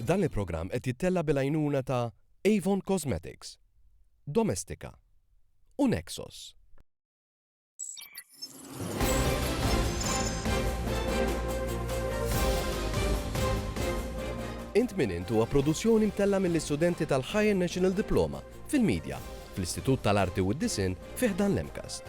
Dan il-programm qed jittella' bil-għajnuna ta' Avon Cosmetics, Domestika u Nexos. Int Min Int huwa produzzjoni mtella' mill-istudenti tal-Higher National Diploma fil-Media fl-Istitut tal-Arti u d-Disinn fi ħdan l-MCAST.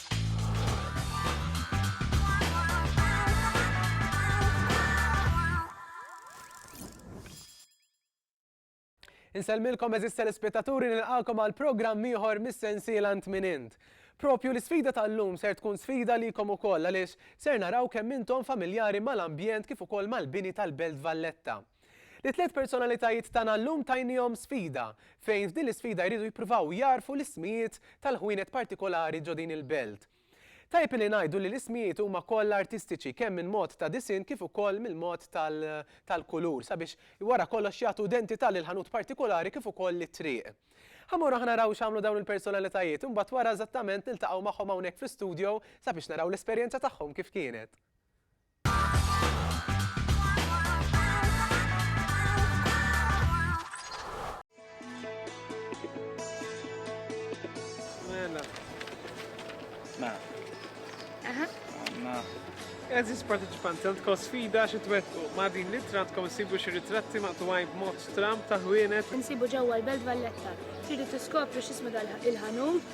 Insellmilkom eżis telespettaturi nilqakom għal programm ieħor mis-sensiela int minn int. Propju l-isfida tal-lum ser tkun sfida likom ukoll għaliex ser naraw kemm intom familjari mal-ambjent kif ukoll mal-bini tal-Belt Valletta. Lit-tliet personalitajiet tagħna llum tajniehom sfida, fejn f'din l-isfida jridu jippruvaw jagħrfu l-ismijiet tal-ħwienet partikolari ġo din il-belt. Tajjeb li ngħidu li l-ismijiet huma kollha artistiċi kemm minn mod ta' disinn kif ukoll mill-mod tal-kulur sabiex wara kollox jagħtu identità lill-ħanut partikolari kif ukoll lit-triq. Ħa mmorru ħa naraw x'għamlu dawn il-personalitajiet, imbagħad wara eżattament niltaqgħu magħhom hawnhekk fl-istudio sabiex naraw l-esperjenza tagħhom kif kienet. Eżis partiċipanti għandkom sfida xi twettqu ma' din l-ittra għandkom isibu xi ritratti maqtuwajn b'mod stram ta' ħwienet. Insibu ġewwa l-Belt Valletta. Tridu tiskopru x'ismu il-ħanut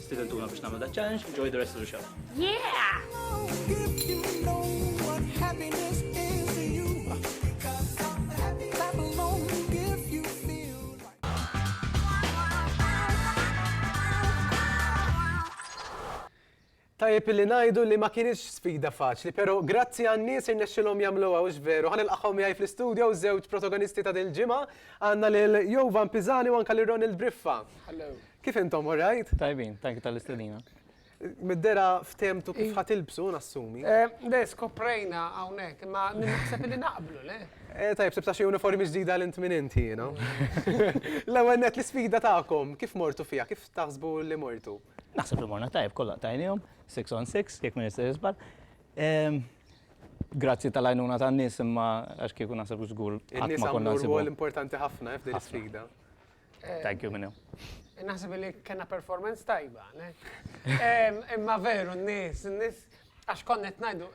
Stidentuna biex nagħmlu da challenge, enjoy the rest of the show. Yeah! Tajjeb li ngħidu li ma kienx sfida faċli, però grazzi għan-nies irnexxilhom jagħmluha hux veru. Ħan ilqaħħom jgħid fl-istudio żewġ protagonisti ta' dil-ġimgħa għandna lil Jovan Piżani u anke lil Ronald Briffa. Kif intom, all right? Tajbin, thank you tal-istedina. Mid-dera ftemtu kif ħat ilbsu, nassumi. Eh, le, skoprejna għawnek, ma naħseb li naqblu, le? Eh, tajb, sebta xie uniformi ġdida l-int minn inti, you know? L-ewel net l-sfida ta'kom, kif mortu fija, kif taħsbu li mortu? Naħseb li morna tajb, kollha tajnihom, 6 on 6, jekk minn jisir jisbar. Ehm, grazzi tal-għajnuna tan-nies imma għax kieku naħseb żgur. Il-nies għamlu l-importanti ħafna eh, f'din sfida. Thank you, Minnew. Naħseb li kena performance tajba, le? Imma veru, n-nis, n-nis, għax konnet najdu,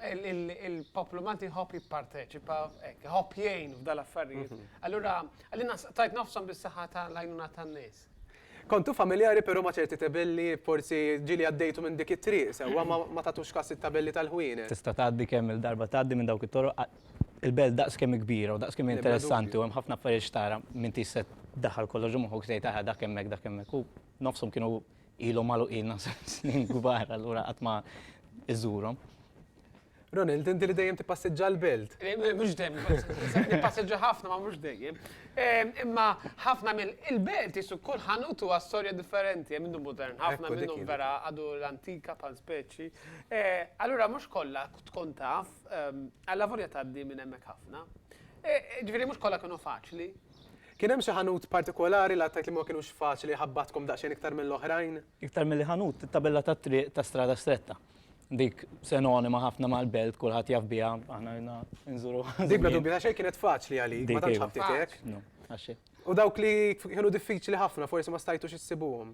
il-poplu Malti hop jipparteċipa, hop jgħin f'dal affarijiet. Mhm. Allura, għallina tajt nofsom bis-saħħa ta' lajnuna tan-nis. Kontu familjari pero ma ċerti tabelli forsi ġili għaddejtu minn dik it-triq, sewa ma tatux kas it-tabelli tal-ħwienet. Tista' tgħaddi kemm il-darba tgħaddi minn dawk it-toroq Il-belt daqs kemm hi kbira u daqs kemm hi interessanti u hemm ħafna affarijiet x'tara, m'intix se ddaħħal kollox ġo moħħok u tgħid aha dak hemmhekk dak hemmhekk u nofshom kienu ilhom magħluqin naħseb snin kbar allura qatt ma żżurhom. Ronald, inti li dejjem tippassiġġa l-belt. Mhux dejjem nippassiġġa, nippassiġġa ħafna ma mhux dejjem. Imma ħafna mill il-belt qisu kull ħanut huwa storja differenti, hemm minnu modern ħafna, minnhom vera għadu l-antika bħal speċi. Allura mhux kollha tkun taf Allavolja tgħaddi minn hemmhekk ħafna. Jiġifieri mhux kollha kienu faċli. Kien hemm xi ħanut partikolari li għad tgħid li ma kinux faċli ħabbatkom daqsxejn iktar mill-oħrajn? Iktar milli ħanut, it-tabella tat-triq ta' Strada Stretta. Dik senonima ħafna mal-Belt, kulħadd jaf biha, aħna ilna nżuruha żmien. Dik bla dubju ta' xejn kienet faċli għalik, ma tantx ħabtitek. Dik iva, faċli. U dawk li kienu diffiċli ħafna forsi ma stajtux issibuhom?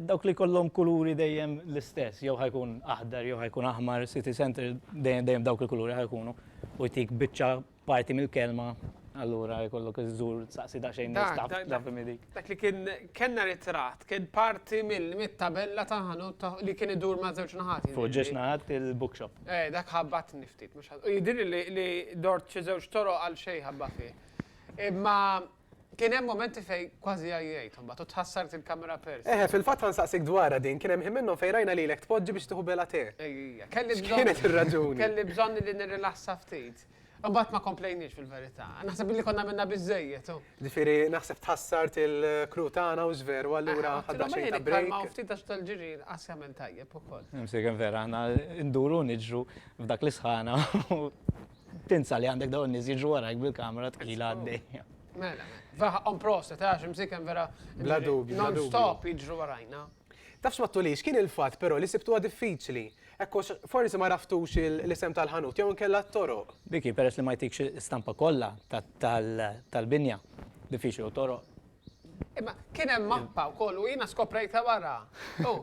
Dawk li jkollhom kuluri dejjem l-istess, jew ħa jkun aħdar jew ħa jkun aħmar, city centre dejjem dawk il-kuluri ħa jkunu u jtik biċċa parti mill-kelma Allura jkollok iżżur saqsi daqsxejn nistaf taf dik. Dak li kien kellna ritratt kien parti mill-tabella ta' ħanut li kien idur ma' żewġ naħat. Fuq ġiex naħat il-bookshop. Eh, dak ħabbat niftit mhux ħadd. Jidir li dort xi żewġ toroq għal xejn ħabba fih. Imma Kien hemm mumenti fejn kważi għajjejt imbagħad u tħassart il-kamera pers. Eħe, fil-fatt ħa nsaqsik dwarha din, kien hemm ħin minnhom fejn rajna lilek tpoġġi biex tieħu bela tè. Ejja, kelli bżonn. X'kienet ir-raġuni? Kelli bżonn li nirrilassa ftit. Imbagħad ma komplejniex fil-verità. Naħseb illi konna għamilna biżżejjed u. Ġifieri naħseb tħassart il-crew tagħna hux veru allura ħadna xejn ta' break. Imma ftit għax tal-ġiri inqas jagħmel tajjeb ukoll. Imsejken vera, aħna nduru niġru f'dak l-isħana u Tinsa li għandek dawn nies jiġu warajk bil-kamera tqila għaddejja. Mela, vera ħaqqhom proset, għax imsiken vera. Bla dubju. Non-stop jiġru warajna. Tafx ma tulix, kien il-fatt però li sibtuha diffiċli. Hekk għax forsi ma raftux l-isem tal-ħanut jew inkella t-toroq. Dik hi, peress li ma jtikx stampa kollha tal-binja, diffiċli u t-toroq. Imma kien hemm mappa wkoll u jiena skoprejtha wara. U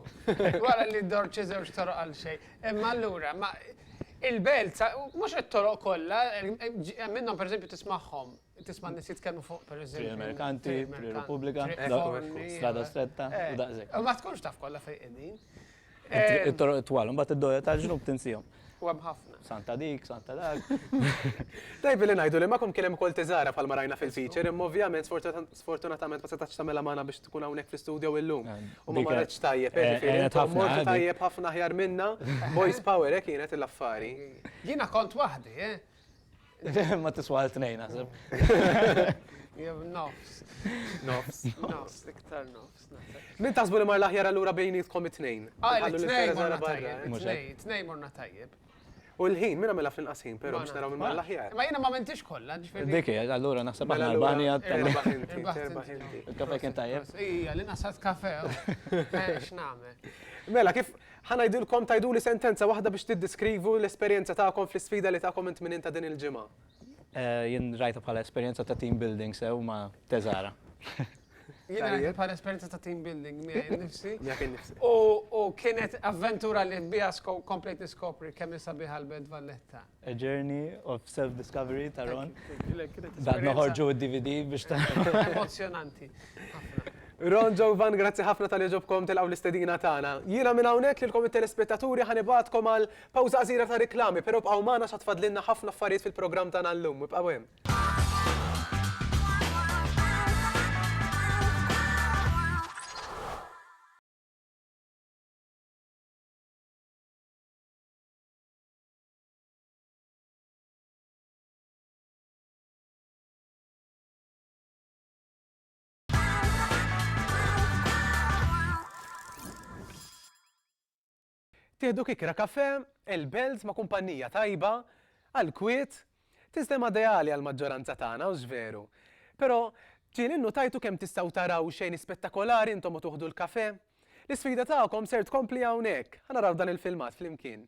wara li ddor xi żewġ toroq għal xejn. Imma allura ma il-belt mhux it-toroq kollha, hemm minnhom pereżempju tismagħhom, tisma' nies jitkellmu fuq pereżempju. Triq Merkanti, Triq Repubblika, Strada Stretta, u daqshekk. Ma tkunx taf kollha fejn qegħdin. It-toroq twal, mbagħad id-dogħja tal-ġnub tinsihom. U hemm ħafna. Santa dik, Santa dak. Tajb li ngħidu li magħkom kien hemm ukoll tiżara bħalma rajna fil-feature, imma ovvjament sfortunatament ma setax tagħmilha magħna biex tkun hawnhekk fl-istudjo illum. U ma marretx tajjeb, jiġifieri tajjeb ħafna aħjar minna, boys power hekk kienet l-affari. Jiena kont waħdi, Ma tiswa għal tnejn naħseb. Jew nofs. Nofs. Nofs, iktar nofs. Min taħsbu li mar l-aħjar allura bejnietkom it-tnejn? Ah, it-tnejn morna tajjeb. It-tnejn morna tajjeb. U l-ħin, minna mela fl-inqasin, pero biex naraw minn mela l-aħjar. Ma jina ma mentix kolla, ġifiri. Dikki, allura naħseb għal l-bani għattan. Il-kafe kien tajjeb. Ija, li naħsat kafe. X'nagħmel. Mela, kif Ħa ngħidilkom, tgħiduli sentenza waħda biex tiddeskrivu l-esperjenza tagħkom fl-isfida li takom it-Tminin ta' din il-ġimgħa. Jien rajtha bħala esperjenza ta' team building sew ma' Teżara. Jiena rajtha bħala esperjenza ta' team building miegħi nnifsi. Miegħek innifsek. U kienet avventura li biha komplejt niskopri kemm hi sabiħa l-Belt Valletta. A Journey of Self Discovery ta' Ron. Bad noħorġu d-DVD biex ta'. Emozzjonanti. Ron Joe Van, grazzi ħafna tal ġobkom tilqgħu l-istedina tagħna. Jiena minn hawnhekk lilkom it-telespettaturi ħa nibgħatkom għal pawża qasira ta' riklami, però bqgħu magħna x'għad fadlilna ħafna affarijiet fil-programm tagħna llum. Ibqgħu hemm. Tieħdu kikra kafè, il-belt ma' kumpannija tajba, għall-kwiet, Sistema ideali għall-maġġoranza tagħna, hux veru? Però, ġieli nnutajtu kemm tistgħu taraw xejn ispettakolari intom u tuħdu l-kafè? L-isfida tagħkom ser tkompli hawnhekk! Ħa naraw dan il-filmat flimkien.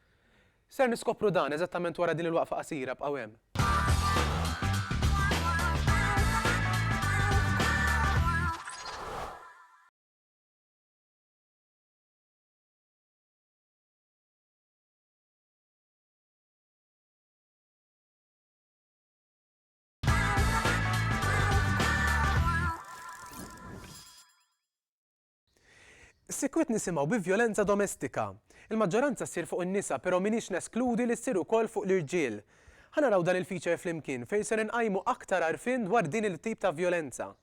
Ser niskopru dan eżattament wara din il-waqfa qasira, bqgħu hemm. Sikwit nisimgħu bi vjolenza domestika. Il-maġġoranza ssir fuq in-nisa pero minix neskludi li ssir ukoll fuq l-irġiel. Ħa naraw dan il-feature flimkien fejn ser inqajmu aktar għarfien dwar din il-tip ta' vjolenza.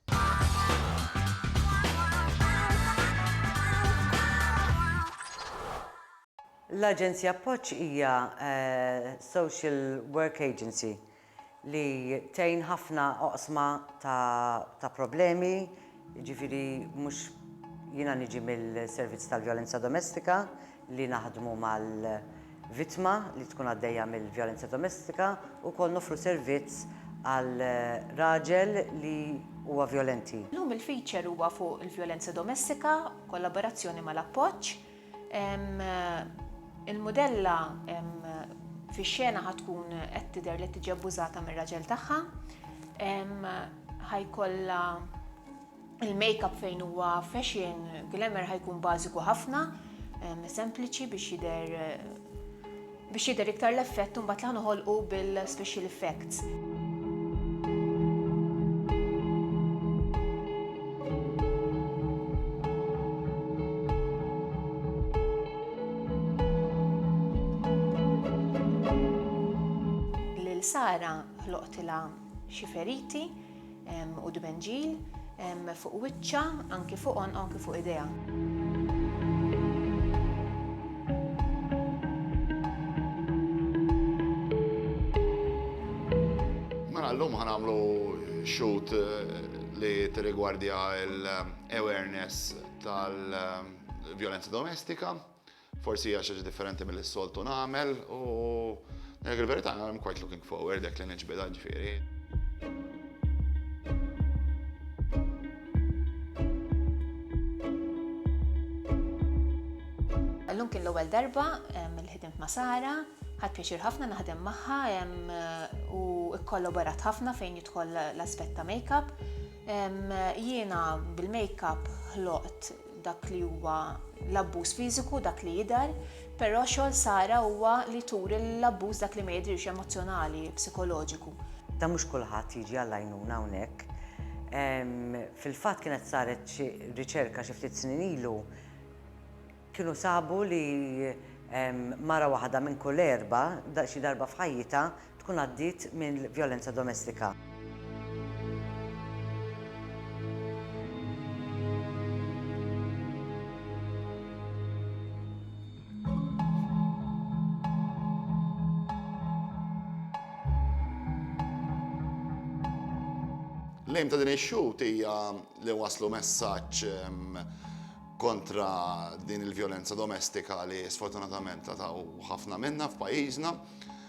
L-Aġenzja Appoġġ hija social work agency. li tgħin ħafna oqsma ta' problemi, jiġifieri mhux, jiena niġi mill-servizz tal-vjolenza domestika li naħdmu mal-vittma li tkun għaddejja mill-vjolenza domestika u wkoll noffru servizz għal raġel li huwa vjolenti. Illum il-feature huwa fuq il-vjolenza domestika b'kollaborazzjoni mal-Appoġġ. Il-mudella fix-xena ħa tkun qed tidher li tiġi abbużata mir-raġel tagħha. Ħajkollha il-makeup fejn huwa fashion glamour ħajkun bażiku ħafna, sempliċi biex jidher biex jidher iktar l-effett imbagħad li ħa noħolqu bil-special effects. Sara ħloqtilha xi feriti u dbenġil fuq wiċċha, anki fuq għonqha u anki fuq idejha. Mela llum ħa nagħmlu shoot li tirrigwardja l-awareness tal-vjolenza domestika. Forsi hija xi ħaġa differenti milli s-soltu nagħmel u ngħidlek il-verità I'm quite looking forward hekk li niġbidha ġifieri. Illum kien l-ewwel darba li ħdimt ma' Sara, ħadt pjaċir ħafna naħdem magħha u kkollaborat ħafna fejn jidħol l-aspett ta' makeup. Jiena bil-makeup ħloqt dak li huwa l-abbuż fiżiku dak li jidher, però xogħol Sara huwa li turi l-abbuż dak li ma jidhirx emozzjonali, psikoloġiku. Dan mhux kulħadd jiġi għall-għajnuna hawnhekk. Fil-fatt kienet saret xi riċerka xi ftit snin ilu, kienu sabu li mara waħda minn kull erba' xi darba f'ħajjitha tkun għaddiet minn vjolenza domestika. L-għim ta' din ix-xut hija li waslu messaġġ kontra din il-vjolenza domestika li sfortunatament taw ħafna minna f'pajjiżna.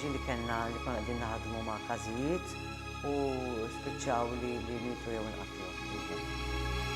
Ġili kellna li konna qegħdin naħdmu ma' każijiet u spiċċaw li mietu jew inqatlu.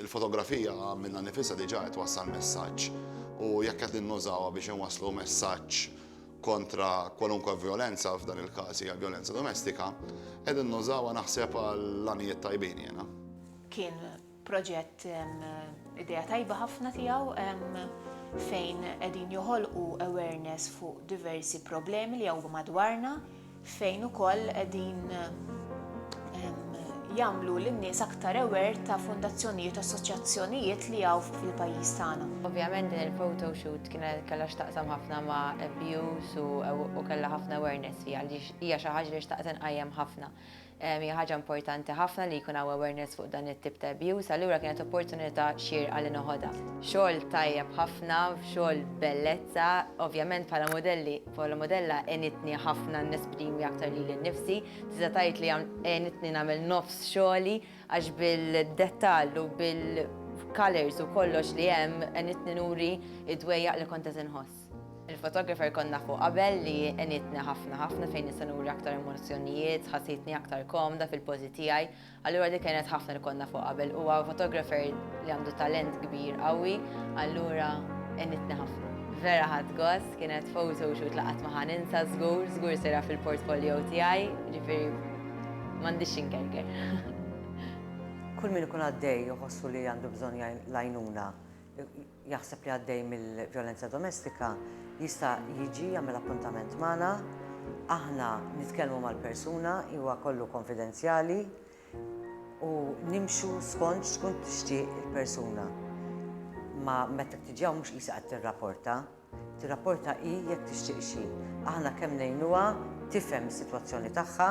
Il-fotografija minnha nifisha diġà qed twassal messaġġ u jekk qed innużawha biex inwasslu messaġġ kontra kwalunkwe vjolenza, f'dan il-każ hija l-vjolenza domestika, qegħdin nużawha naħseb għal għanijiet tajbin jiena. Kien proġett idea tajba ħafna tiegħu fejn qegħdin joħolqu awareness fuq diversi problemi li hawn madwarna, fejn ukoll qegħdin jagħmlu lin-nies aktar aware ta' fondazzjonijiet u assoċjazzjonijiet li hawn fil-pajjiż tagħna. Ovvjament din il-photo shoot kienet kellha x'taqsam ħafna ma' abuse u kellha ħafna awareness fiha għaliex hija xi ħaġa li xtaqt inqajjem ħafna. Hija ħaġa importanti ħafna li jkun hawn awareness fuq dan it-tip ta' abuse, allura kienet opportunità xierqa li noħodha. Xogħol tajjeb ħafna, xogħol bellezza. Ovvjament bħala mudelli, bħala mudella għenitni ħafna nesprimi aktar lili nnifsi. Tista' tgħid li għenitni nagħmel nofs xogħli għax bil-dettall u bil-colours u kollox li hemm għenitni nuri d-dwejjaq li kont qed inħoss. Il-photographer kont nafu qabel li għenitni ħafna ħafna fejn nista' nuri aktar emozzjonijiet, ħassitni aktar komda fil-pożi tiegħi, allura dik għenet ħafna li kont nafu qabel. Huwa photographer li għandu talent kbir qawwi, allura għenitni ħafna. Vera ħadt gost, kienet photo shoot li qatt ma ħa ninsa żgur, żgur sejra fil-portfolio tiegħi, ġifieri m'għandix x'inkerker. Kull min ikun għaddej iħossu li għandu bżonn l-għajnuna, jaħseb li għaddej mill-vjolenza domestika jista' jiġi jagħmel appuntament magħna, aħna nitkellmu mal-persuna, huwa kollu konfidenzjali u nimxu skont x'tkun tixtieq il-persuna. Ma meta tiġi hawn mhux qisha qed tirrapporta, tirrapporta hi jekk tixtieq xi. Aħna kemm ngħinuha tifhem is-sitwazzjoni tagħha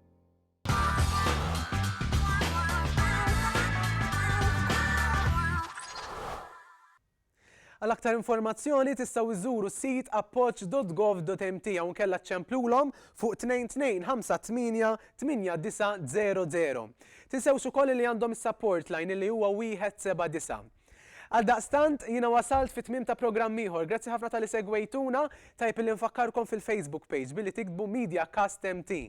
Għal aktar informazzjoni tistgħu iżżuru s-sit appoġġ.gov.mt jew inkella ċċemplulhom fuq 2258 8900. Tinsewx ukoll li għandhom is-support line li huwa wieħed seba' disa'. Għaldaqstant, jiena wasalt fit-tmiem ta' programm ieħor. Grazzi ħafna talli segwejtuna, tajjeb illi nfakkarkom fil-Facebook page billi tiktbu MediaCast MT.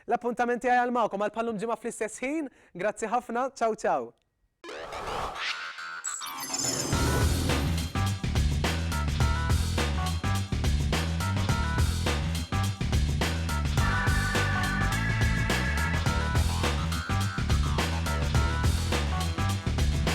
L-appuntament tiegħi għal magħkom għal bħal-lum ġimgħa fl-istess ħin, grazzi ħafna, ciao ciao!